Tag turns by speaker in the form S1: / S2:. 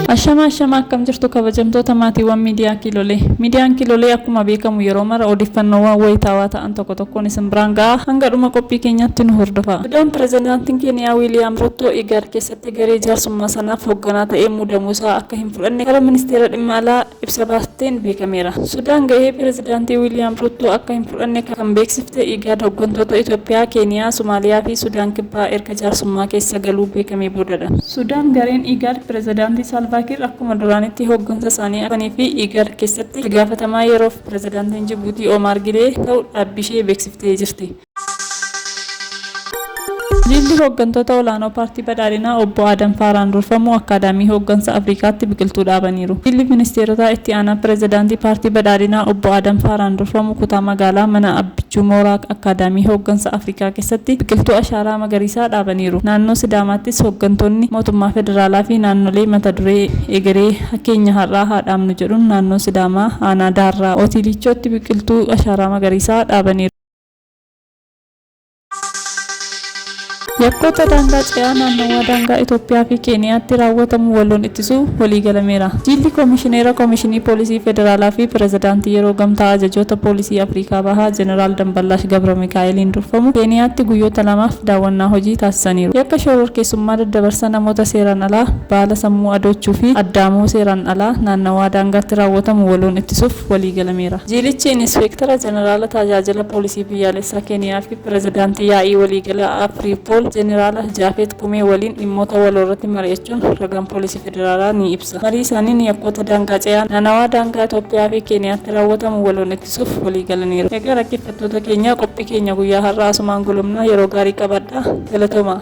S1: Ashama ashama akkam jirtu kabajamtoota maatiiwwan miidiyaa kiilolee. Miidiyaan kiilolee akkuma beekamu yeroo mara odeeffannoowwan wayitaawaa ta'an tokko tokkoon isin biraan ga'a hanga dhuma qophii keenyaatti nu hordofa. Iddoon pirezidaantiin Keeniyaa Wiiliyaam Ruuttoo Igaad keessatti egeree jaarsummaa sanaaf hogganaa ta'ee muudamuu isaa akka hin fudhanne karaa Ministeera Dhimma Alaa ibsa baasteen beekameera. Sudaan gahee Pirezidaantii Wiiliyaam Ruuttoo akka hin fudhanne kan beeksifte IGAD hoggantoota Itoophiyaa, Keeniyaa, Somaaliyaa fi Sudaan Kibbaa erga jaarsummaa keessa galuu beekamee boodadha. Sudaan gareen IGAD Pirezidaantii Saalvaa Kiir akkuma duraaniitti hoggansa isaanii akka hin fudhanii fi IGAD keessatti itti gaafatamaa yeroof Pirezidaantiin Jibuutii Oomaar Gilee ta'u dhaabbiishee beeksiftee jirti. Jilli hooggantoota olaanoo Paartii Badhaadhinaa Obbo Aadam Faaraan durfamu Akkaadaamii Hooggansa Afrikaatti biqiltuu dhaabaniiru. Jilli Ministeerotaa Itti Aanaa Pirezidaantii Paartii Badhaadhinaa Obbo Aadam Faaraan durfamu kutaa magaalaa Mana Abbichuu Mooraa Akkaadaamii Hooggansa Afrikaa keessatti biqiltuu ashaaraa magariisaa dhaabaniiru. Naannoo Sidaamaattis hooggantoonni mootummaa federaalaa fi naannolee mata duree Egeree keenya har'aa haa dhaabnu jedhuun naannoo Sidaamaa aanaa Daarraa Otiiliichootti biqiltuu ashaaraa magariisaa dhaabaniiru. Yakkoota daangaa ce'aa naannawaa daangaa Itoophiyaa fi Keeniyaatti raawwatamu waloon ittisuu waliigalameera. Jiilli Komishineera Komishinii Poolisii Federaalaa fi Pirezidaantii Yeroo Gamtaa Ajajoota Poolisii Afrikaa Bahaa Jeneraal Damballaash Gabramikaa'eliin durfamu Keeniyaatti guyyoota lamaaf daawwannaa hojii taasisaniiru. Yakka shororkeessummaa daddabarsa namoota seeraan alaa, baala sammuu adoochuu fi addaamoo seeraan alaa naannawaa daangaatti raawwatamu waloon ittisuuf, waliigalameera. Jiilichi Inispeektara Jeneraala Taajaajila Poolisii Biyyaalessaa Keeniyaa fi Pirezidaantii Yaa'ii Waliigalaa Afriipool Jeneraala Jaafeet Kumee waliin dhimmoota waloorratti mari'achuun ragaan Poolisii Federaalaa ni ibsa. Marii isaaniin yakkoota daangaa ce'aa naanawaa daangaa Itoophiyaa fi Keeniyaatti raawwatamu waloon ittisuuf waliigalaniiru. Egaa dhaggeeffattoota keenya qophii keenya guyyaa har'aa asumaan golobna yeroo gaarii qabaadhaa. Galatoomaa!